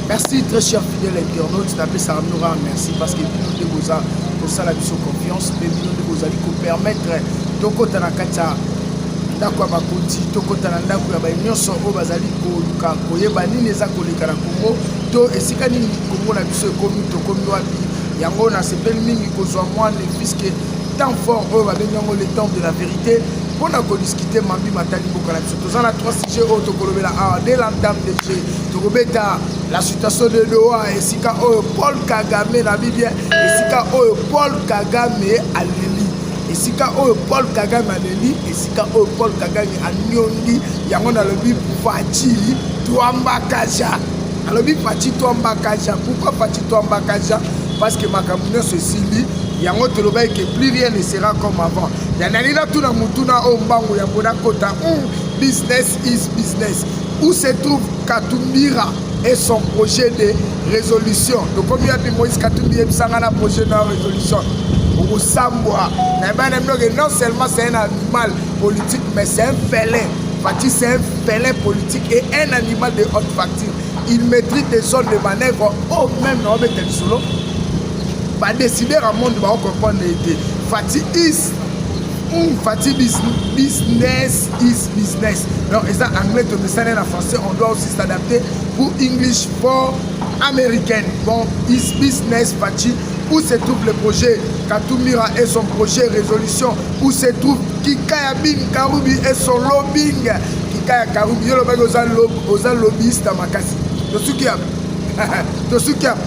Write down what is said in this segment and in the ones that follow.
merci très cher fidèle internaute napesaka bino kaka merci parce que bino nde boza kosala biso confiance mpe bino nde bozali kopermettre tokɔta na kati ya ndako ya bakonzi tokɔta na ndako ya baye nyonso oyo bazali koluka koyeba nini eza koleka na kongo to esika nini kongo na biso ekomi tokomi wapi yango nasepeli mingi kozwa mwa ne puiske temps fort oyo babengi yango le temps de la vérité mpo na kodiskute mambi matali mboka na biso toza na trois sujet oyo tokolobela awa de la dame de jeu tokobeta la situation de doha esika oyo paul kagame na bibien esika oyo paul kagame aleli esika oyo paul kagame aleli esika oyo paul kagame aniongi yango nalobi faci twambakaja alobi faci twambakaja pourkui faci twambakaja parce que makambo nyonso esili yango tolobaki ke plus rien ne sera comme avant Yanali natuna motuna oyo mbangu ya mboda kota hmm, business is business où se trouve katumbira et son projet de résolution tokomi yapi moïse katumbi yebisa ngai na projet na résolution okosambwa nayeba na bino ke non seulement c'est un animal politique mais c'est un félin fati c'est un félin politique et un animal de haute facture il maîtrise des zones de manœuvre oyo oh, même na obeta lisolo ba décider à monde ba comprendre été Fatih is mm, Fatih bis, business is business donc ils ont anglais tout ça en français on doit aussi s'adapter pour English for American bon is business Fatih où se trouve le projet Katumira et son projet résolution où se trouve Kikaya Bin Karubi et son lobbying Kikaya Karubi yo lobaki oza lobbyiste makasi tosuki ya tosuki ya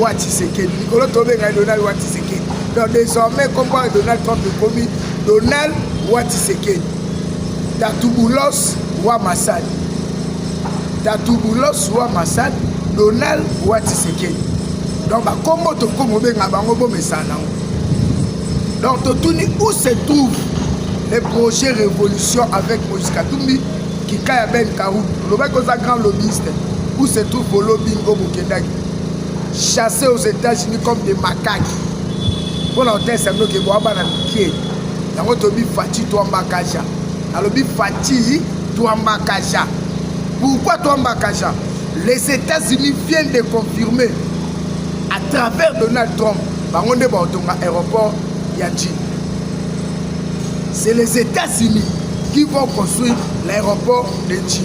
wa tshisekedi likolo tobenga ye donald wa tshisekedi donc désormais kombo ya donald trump ekomi donald wa tshisekedi tatubulos wa masadi tatubulos wa masadi donald wa tshisekedi donc bakombo tokomi obenga bango bomesana nango donc totuni où se trouve le projet révolution avec moïse katumbi kika ya ben karubi olobaki oza grand lobbyiste où se trouve bolobingo bokendaki chasse aux États-Unis comme des macaques mpona otesa bino ke boa bana mike yango tobi faci twambakaja alobi faci twambakaja pourquoi twambakaja les États-Unis viennent de confirmer à travers Donald Trump bango nde baotonga aéroport ya Chine c'est les États-Unis qui vont construire l'aéroport de Chine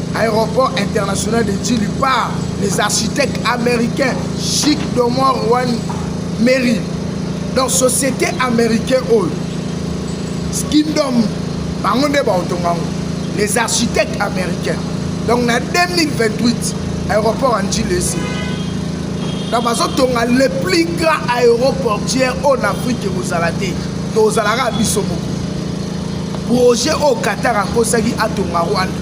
Aéroport international de Djili par les architectes américains Chic Domor Juan Mary. Donc société américaine oyo Skindom bango nde baotonga yango les architectes américains. Donc na 2028 aéroport ya Djili esi donc bazotonga le plus grand aéroportière oyo na afrique ekozala te tozalaka biso moko projet oyo qatar akosaki atonga rwanda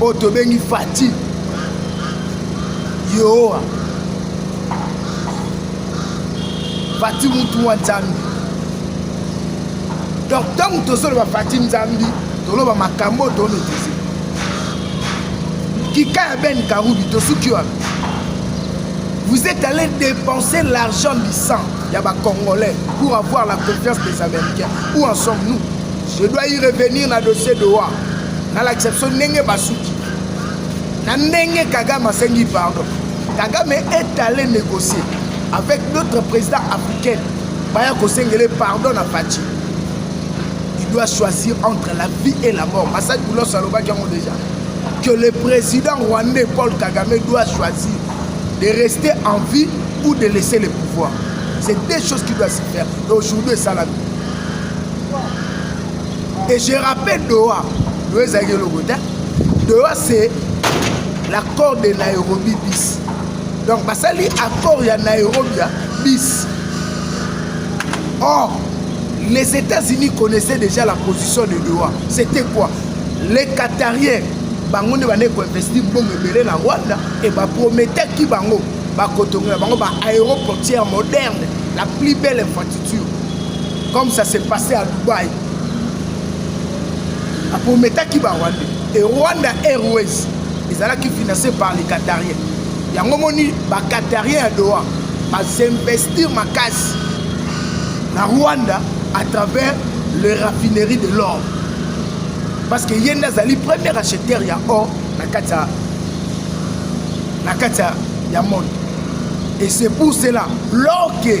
oyo tobengi fati yehowa fati mutu wa nzambi donc ntango tozoloba fati nzambi toloba makambo oyo tometrise kika ya ben karubi tosuki wana vous êtes allé dépenser l'argent du sang ya bacongolais pour avoir la confiance des américains où en sommes nous Je dois y revenir na dossier de wa nalakisa biso ndenge basuki na ndenge kagame asengi pardon kagame est allé négocier avec d'autres présidents africains baya kosengele pardon na faci il doit choisir entre la vie et la mort masadi bulos alobaki yango déjà que le président rwandais paul kagame doit choisir de rester en vie ou de laisser le pouvoir c'est deux choses qui doivent se faire et aujourd'hui esalami Et je rappelle Doha, Doha ezalaki eloko te. Doha c'est l'accord de Nairobi bis. Donc basali accord ya Nairobi ya bis. Or, les États-Unis connaissaient déjà la position de Doha. C'était quoi Les Qatariens, bango nde bande koinvesti mbongo ebele na Rwanda et baprometaki bango bakotongela bango ba aéroportière moderne la plus belle infrastructure comme ça s'est passé à Dubaï aprometaki ba rwandais et rwanda airways ezalaki financé par les qatariens yango moni ba qatariens ya doha basinvestir makasi na rwanda à travers le raffinerie de l'or parce que ye nde azali premier acheteur ya or na kati ya na kati ya monde et c'est pour cela l'or ke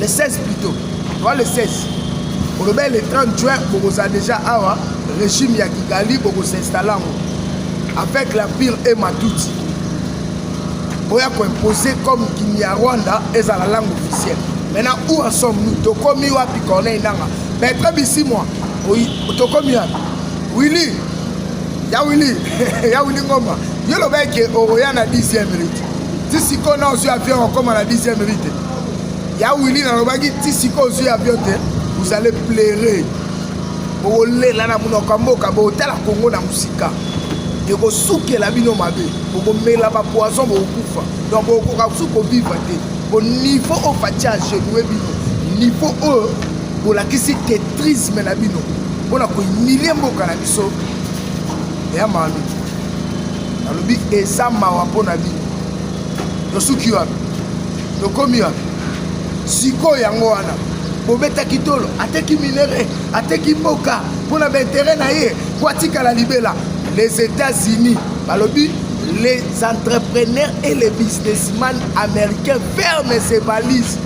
le 16 plutôt toi le 16 olobeli le 30 juin bokozala déjà awa régime ya kigali bokosinstalla yango avec la pire et matuti boya koimpose comme kinyarwanda ezala langue officielle maintenant où en sommes nous tokomi wapi corneille nanga maître bisimwa tokomi wapi willi ya willi ya willi ngomba yo lobaki okoya na 10e minute ti sikoyo na ozwi avion okoma na 10e rue te ya wili nalobaki ti sikoyo ozwi avion te vous allez plaire bokolela na monoko ya mboka botala kongo na mosika ekosukela bino mabe bokomela bapoison bokokufa donc bokokoka kusu koviva te po niveau oyo faci agenue bino niveau oyo bolakisi tetrisme na bino mpo na kohumilie mboka na biso ya malu nalobi eza mawa mpo na bino tosuki wapi tokomi wapi sikoyo yango wana bobetaki tolo ateki minere ateki mboka mpo na baintere na ye mpo atikala libela les états-unis balobi les entrepreneurs et les businessmen américains ferment ses valises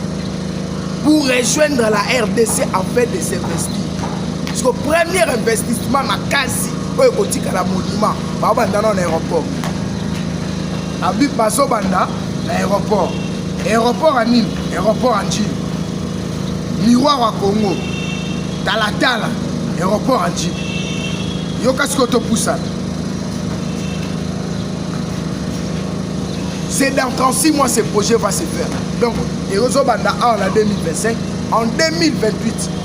pour rejoindre la rdc afin de s'investir siko premier investissement makasi oyo ekotikala monima babanda nao na aéroport abi bazobanda na aéroport aéroport ya nini aéroport ya njili miroir ya congo talatala aéroport ya njili yoka sikoyo topusana c'est dans 36 mois ce projet va se faire donc ezobanda awa na 2025 en 2028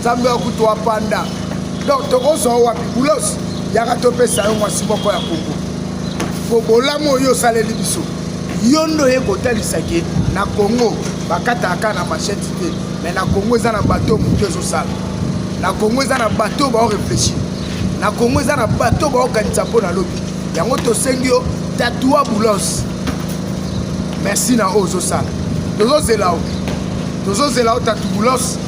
nzambe ya kutu apanda donc tokozwa wapi bulos yaka topesa yo mwasi moko ya kongo po bolamu oyo osaleli biso yo nde oye kotalisa ke na kongo bakataka kaka na machete te me na kongo eza na bato moke ezosala na kongo eza na bato baoreflechir na kongo eza na bato baokanisa mpo na lobi yango tosengi yo tatua boulos merci na oyo ozosala tozozela yo tozozela yo tatu boulos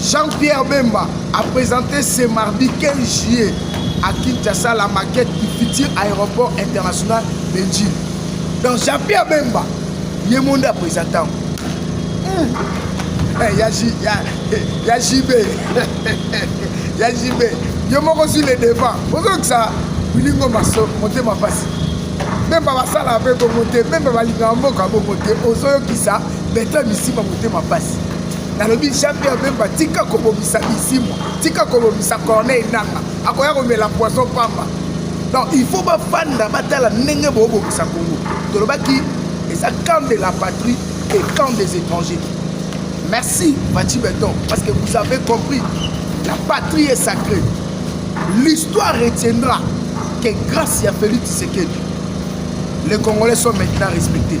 Jean-Pierre Bemba a présenté ce mardi 15 juillet à Kinshasa la maquette du futur aéroport international de Ndjili. Donc Jean-Pierre Bemba, ye monde a présenté. Mmh. Hey, eh, ya, ya, ya JB, ya JB, yo moko sur le devant. Bonjour que ça, bilingo maso, monte ma passe. Bemba basala pe bongo te, Bemba balingaka mboka bongo te, ozoyokisa Bertrand Bisimba motema pasi. nalobi jean pierre bemba tika kobomisa bisimwa tika kobomisa corneille nanga akoya komela poison pamba donc il faut bafanda batala ndenge boobomisa kongo tolobaki eza camp de la patrie et camp des étrangers merci bati beton parce que vous avez compris la patrie est sacrée l'histoire retiendra que grâce ya félix tshisekedi les congolais sont maintenant respectés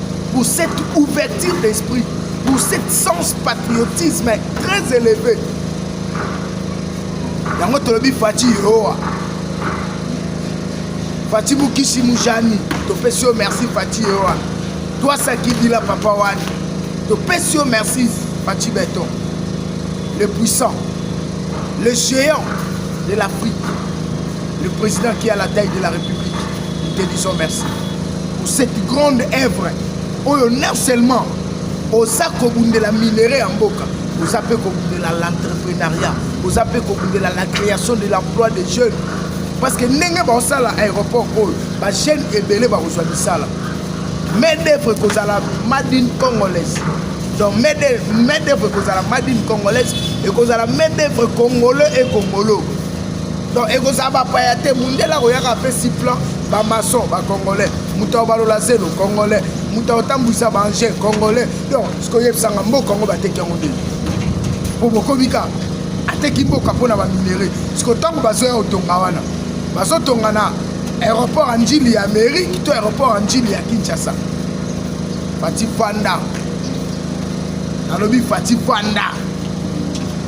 pour cette ouverture d'esprit, pour cet sens patriotisme très élevé. yango tolobi fati yoa fati mokisi mujani topesi yo merci fati yoa twasakidila papa wani topesi yo merci fati beton le puissant le géant de l'afrique Le président qui a la taille de la République, nous te disons merci pour cette grande œuvre. Oyo non seulement oza kobundela minerais ya mboka, oza mpe kobundela l'entrepreneuriat, oza mpe kobundela la création de l'emploi des jeunes. Parce que ndenge baosala aéroport oyo, ba jeunes ebele bakozwa misala. Main d'œuvre ekozala made in congolaise. Donc main d'œuvre ekozala made in congolaise, ekozala main d'œuvre congolais et congolo. donc ekozala bapaya te mundele akoyaka apesi plan bamason bacongolais moto ya balola zelo congolais moto ya kotambwisa baangel congolais donc sikoyebisanga mboka yango bateki yango nde mpo bokomi kaka ateki mboka mpo na baminere siko ntango bazoya kotonga wana bazotonga na aéroport ya njili ya amérique to aéroport ya njili ya kinshasa fati fanda nalobi fati fanda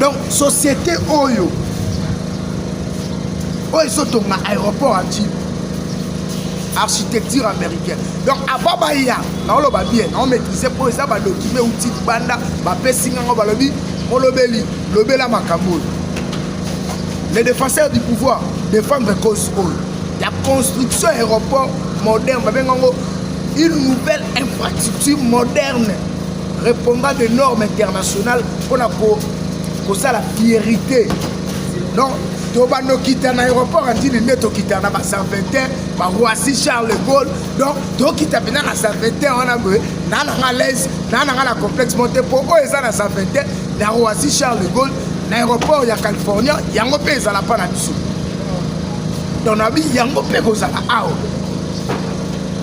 donc société oyo oyo ezotonga aéroport ya ntime architecture américaine donc avant baya naoloba bien naomaîtrise mpo eza badokime uti libanda bapesi ngango balobi molobeli lobela makambo oyo les défenseurs du pouvoir défendre cause oyo ya construction ya aéroport moderne babenga yango une nouvelle infrastructure moderne repondant de norme internationale mpo na kosala fierité donc to bandokita na aéroport andini nde tokita na baservetin baroisi charles de gaulle donc tokita mpena na servetin wana boye na nanga laise na nanga na complexe monte mpo oyo eza na servetin na roisi charles de gaulle na aéroport ya california yango mpe ezala mpa na biso donc nabi yango mpe kozala awa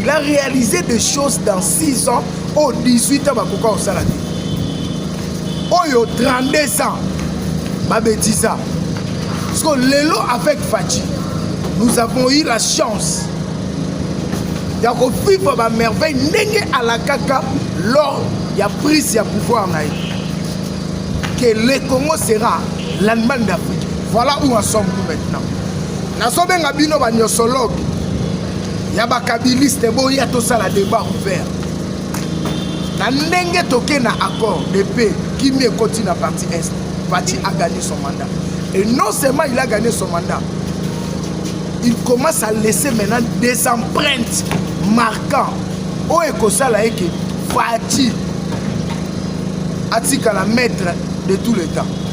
il a réalisé des choses dans 6 ans au 18 ans bakoka kosala te oyo 32 ans babetisa parce que lelo avec faci nous avons eu la chance ya kovivre bamerveille ndenge alakaka lors ya prise ya pouvoir na ye que le congo sera l'allemagne d'afrique voilà où en sommes nous maintenant nazobenga bino banyosologue ya bakabiliste boya tosala debat ouvert na ndenge toke na accord de paix kimi ekoti na parti est pati a gagné son mandat et non seulement il a gagné son mandat il commence à laisser maintenant des empreintes marquant oyo ekosala ye ke fati atikala maître de tout le temps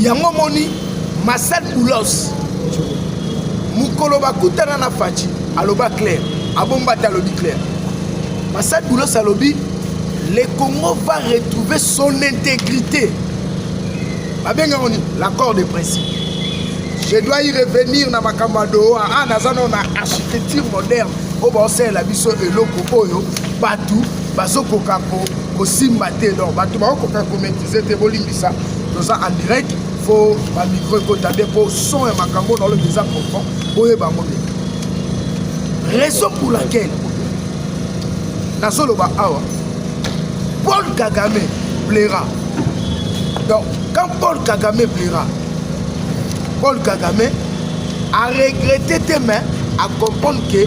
yango moni masal boulos mokolo bakutana na faci aloba claire abomba te alobi claire masal boulos alobi le congo va retrouver son intégrité babengaka nini l'accord de principe je dois y revenir na makambo ya doha a ah, naza nao na architecture moderne oyo baosalela biso eloko oyo bato bazokoka kosimba te donc bato bakokoka komaitrise te bolimbisa toza en direct fo bamicro ekota nde mpo son ya makambo na olobi eza profond boyeba yango nde raison pour laquelle nazoloba awa paul kagame plaira donc quand paul kagame plaira paul kagame aregrete te mais acomprendre que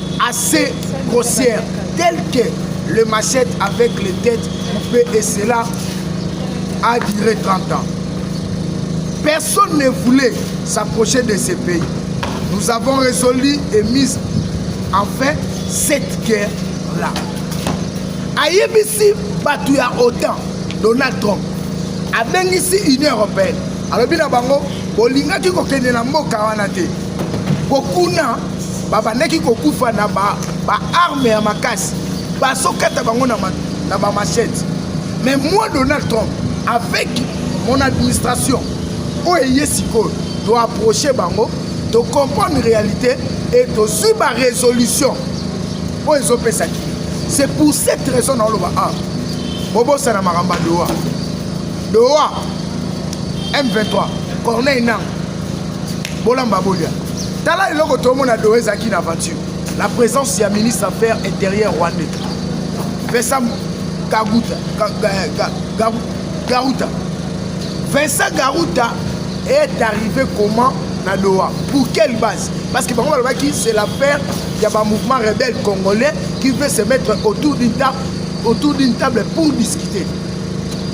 assez grossière telle que le machette avec les têtes coupées et cela a duré 30 ans. Personne ne voulait s'approcher de ces pays. Nous avons résolu et mis en fin cette guerre-là. ayebisi bato ya otan donald trump abengisi union européenne alobi na bango bolingaki kokende na mboka wana te Ko kuna babandaki kokufa na ba, ba arme ya makasi bazokata bango na, ma, na bamachete mais moi donald trump avec mon administration oyo eye sikoyo toapproche bango tocomprendre réalité e tozwi barésolution oyo ezopesaki c'est pour cette raison naoloba a ah, bobosana makambo ya doha doha m23 corneille nanga bolamba bolia tala eloko tomona do ezalaki na aventure la présence ya ministre affaire intérieure rwandais pesa kaguta garuta vincent garuta est arrivé comment na doha pour quelle base parce que bango balobaki c'est l'affaire ya bamouvement rebelle congolais qui veut se mettre autour d'une table autour d'une table pour discuter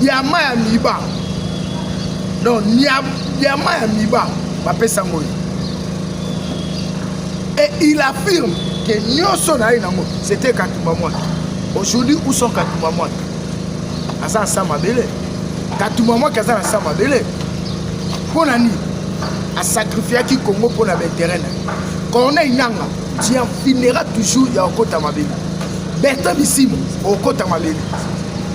Diama ya miba. Non, diama ya miba bapesa ngo. Et il affirme que nyoso na ye nango c'était Katumba Mwaki. Aujourd'hui où sont Katumba Mwaki? Aza sa mabele. Katumba Mwaki aza na sa mabele. Mpo na nini? asacrifiaki congo mpo na baintere na ye corneille nanga tu en finira toujours ya okota mabele bertin bisimo okota mabele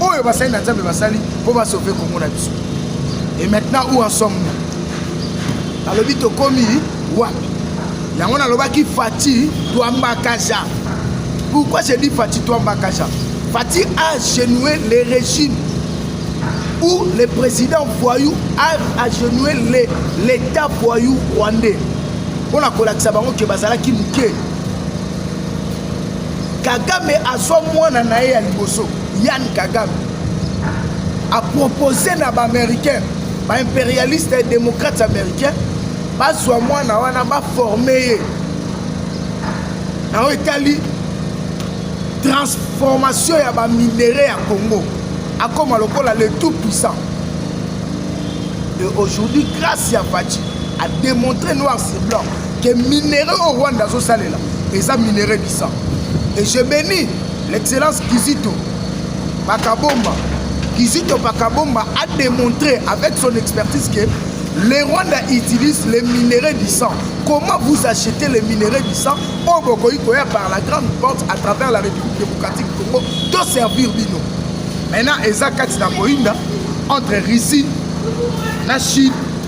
oyo basali na nzambe basali mpo basauve kongo na biso et maintenant où en somme alobi tokomi wapi yango nalobaki fati twambakaja pourquoi je dis fati twambakaja fati a genoué les régimes où le président voyou a agenoué l'état voyou rwandais mpo na kolakisa bango ke bazalaki moke Kagame azwa mwana na ye ya liboso Yann Kagame apropose na baaméricain baimperialiste ya démocrates américain bazwa mwana wana baforme ye na oyo etali transformation ya baminere ya congo akoma lokola le tout puissant et aujourd'hui grâce ya faci a démontré noir sur blanc que minerai oyo rwanda azosalela eza minerai bisa et je bénis l'excellence kizito bakabomba kizito bakabomba a démontré avec son expertise que le rwanda utilise les minerais du sang comment vous achetez les minerais du sang oyo oh, bokoki koya par la grande porte à travers la république démocratique congo toservir bino maintenant eza kati na koyinda entre russie na chine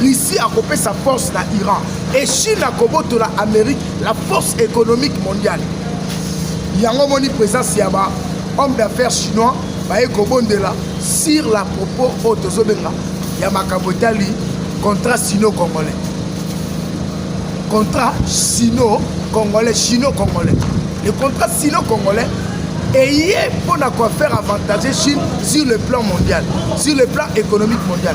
Russie akopesa force na Iran et Chine akobotola Amerique la force économique mondiale. Yango moni présence ya ba homme d'affaires chinois baye kobondela sur la propos oyo tozobenga ya makambo etali contrat sino congolais contrat sino congolais chino congolais le contrat sino congolais eye mpo na kofaire avantage chine sur le plan mondial sur le plan économique mondial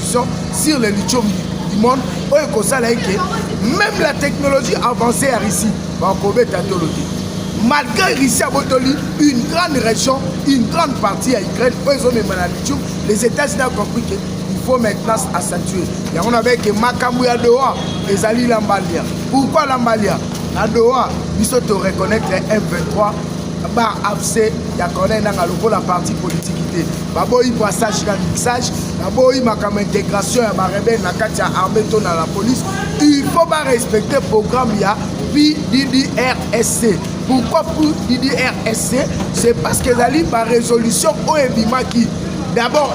sur les lithium du monde oyo ekosala eke même la technologie avancée ya russie bakobeta tolo te malgré russie abotoli une grande région une grande partie ya ukraine oyo ezomema na lithium les états-unis a compris que faut maintenant asatue yango nabeke makambo ya doha ezali lambalia pourkui lambalia na doha biso toreconnaitre m23 ba afc ya corneille nanga lokola parti politiki te baboyi passage na mixage baboyi makambo intégration ya barebele na kati ya armée to na la police il faut barespecte programme ya pddrsc pourquoi pddrsc c'est parce que ezali barésolution oyo ebimaki d'abord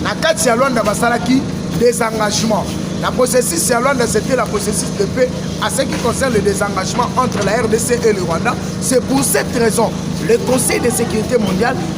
1 na kati ya lwanda basalaki désengagement La processus à Luanda, c'était la processus de paix à ce qui concerne le désengagement entre la RDC et le Rwanda. C'est pour cette raison le Conseil de sécurité mondiale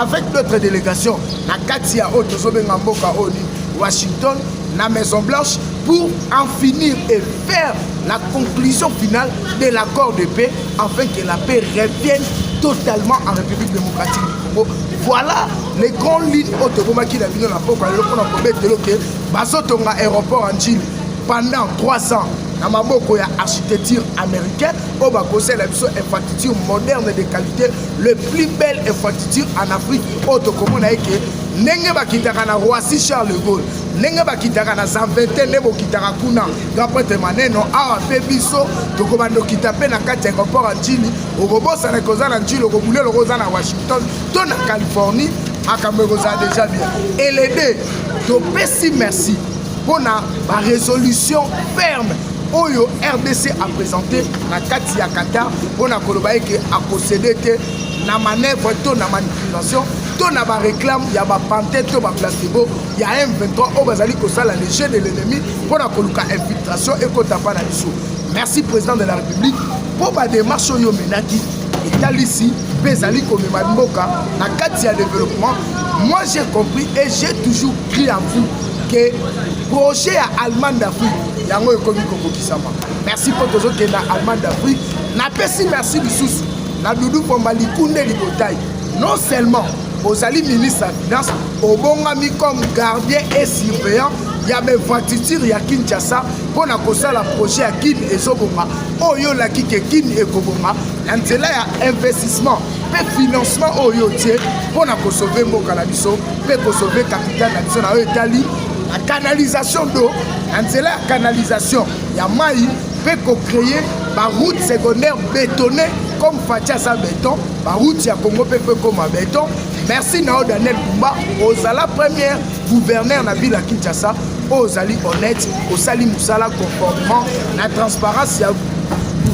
avec d'autres délégations na kati ya oyo tozobenga mboka oyo ni washington na maison blanche pour en finir et faire la conclusion finale de l'accord de paix afin que la paix revienne totalement en république démocratique du congo voilà les grandes lignes oyo tokomaki na bino na mboka lelo mpo na kobetelo ke bazotonga aéroport ya njili pendant 3 ans na maboko ya architecture américaine oyo bakosala biso infrastructure moderne de qualité le plus belle infrastructure en afrique oyo tokomona eke ndenge bakitaka na roissy charles de gaulle ndenge bakitaka na zanvete nde bokitaka kuna grand prêtre maneno awa mpe biso tokobanda okita mpe na kati ya aéroport ya njili okobosana koza na njili okobule loko oza na washington to na californie makambo ekozala deja bien elede topesi merci mpo na ba resolution ferme oyo rdc apresente na kati ya qatar mpo na koloba eke akosede te na manœuvre to na manipulation to na bareklame ya bapante to baplacebo ya m23 oyo bazali kosala le jeu de l'ennemi mpo na koluka infiltration ekota mpa na biso merci président de la république mpo bademarche oyo omenaki etalisi mpe ezali komema mboka na kati ya développement moi j'ai compris et j'ai toujours cri à vous ke projet ya allemagne d'afrique yango ekomi kokokisama merci mpo tozokenda allemagne d'afrique napesi merci lisusu na dudu pomba likunde libotai non seulement ozali ministre ya finance obongami comme gardien et surveillant ya bainfrastructure ya kinshasa mpo na kosala projet ya kin ezobonga oyo olaki ke kin ekobonga na nzela ya investissement mpe financement oyo yo otie mpo na kosove mboka na biso mpe kosove kapitale na biso na oyo etali na canalisation do na nzela ya canalisation ya mai mpe kocreye baroute secondaire bétonne comme faci aza beton baroute ya congo mpe mpe ekoma beton merci na yo daniel kumba ozala première gouverneur na ville ya kinshasa oyo ozali honnête osali mosala conformément na transparence ya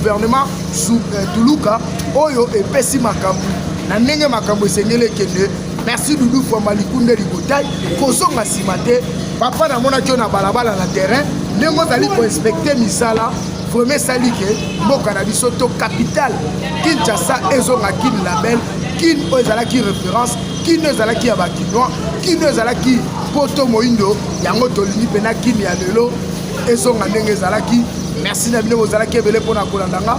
gouvernement euh, tuluka oyo epesi makambo na ndenge makambo esengeli ekende merci dudu fwamba likunde libotai kozonga nsima te papa namonaki yo na balabala na terrain ndenge ozali koinspekte misala vraimen esali ke mboka na biso to capitale kinshasa ezonga kin label kin oyo ezalaki référence kin oyo ezalaki ya bakinois kin oyo ezalaki poto moindo yango tolingi mpena kin ya lelo ezonga ndenge ezalaki merci na bino bozalaki ebele mpo na kolanda nga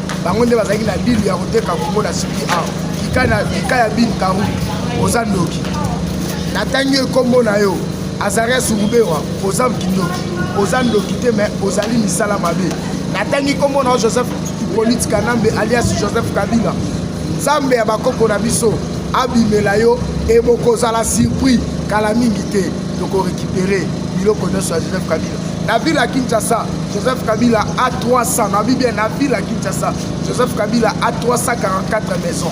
bango nde bazalaki na dili ya koteka kongo na siki awa kika ya bin karu oza ndoki natangi yo nkombo na yo azaria surubewa oza kindoki oza ndoki te me ozali misala mabe natangi nkombo na yo joseph ipolite kanambe alias joseph kabila nzambe ya bakoko na biso abimela yo e bokozala surpris kala mingi te tokorekipere biloko nyonso ya joseph kabila na ville ya kinshasa joseph kabila a 300 nabi bien na ville ya kinshasa joseph kabila a 344 maison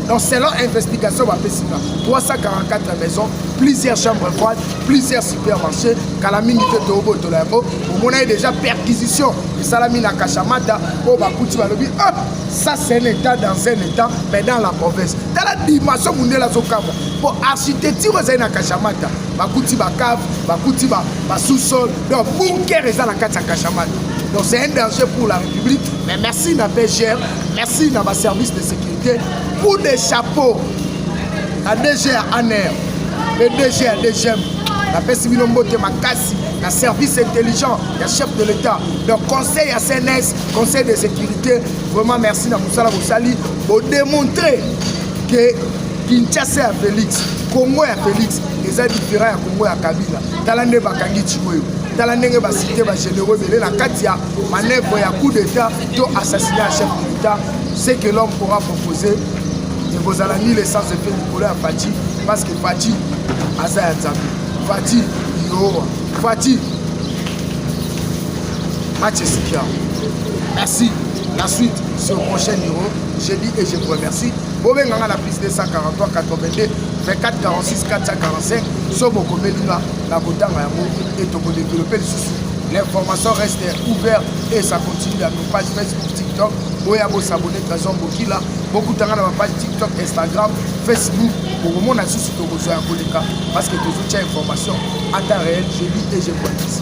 donc selon investigation bapesi nga 344 maison plusieurs chambres froide plusieurs supermarché kala mingi te toobotola yango omona ye déjà perquisition esalami na kashamata oyo bakuti balobi ah, ça c'est un état dans un état mais dans la province tala dimension mondele azokamwa mpo architecture ezali na kashamata bakuti bacave bakuti basous-sol donc bunker eza na kati ya kashamani donc c'est un danger pour la république mais merci na bgr merci na baservice de sécurité coup de chapeau na dgr aner le dgr dgm napesi bino mbote makasi na service intelligent ya chef de l'état donc conseil ya cns conseil de sécurité vraiment merci na mosala bosali bodemontre que Kinshasa ya Felix, Congo ya Felix eza different ya Congo ya Kabila. Tala nde bakangi Chiwewe, tala ndenge basite ba généraux ebele na kati ya manœuvre ya coup d'état to assassiné ya chef de l'État. Ce que l'homme pourra proposer ekozala ni l'essence epe likolo ya Fatshi parce que Fatshi aza ya Nzambe. Fatshi Yehova, Fatshi match esikia. Merci. La suite sur prochain numéro. Je dis et je vous remercie. bobenga nga na plus 243 82 24 46 445 so bokomeli nga na kotanga yango e tokodevelope lisusu l'information reste ouverte et ça continue à nos pages facebook tiktok boya bosabone trésor bokila bokutanga na bapage tiktok instagram facebook bokomona lisusu tokozwa ya koleka parce que tozotya information ata réel je lis et je police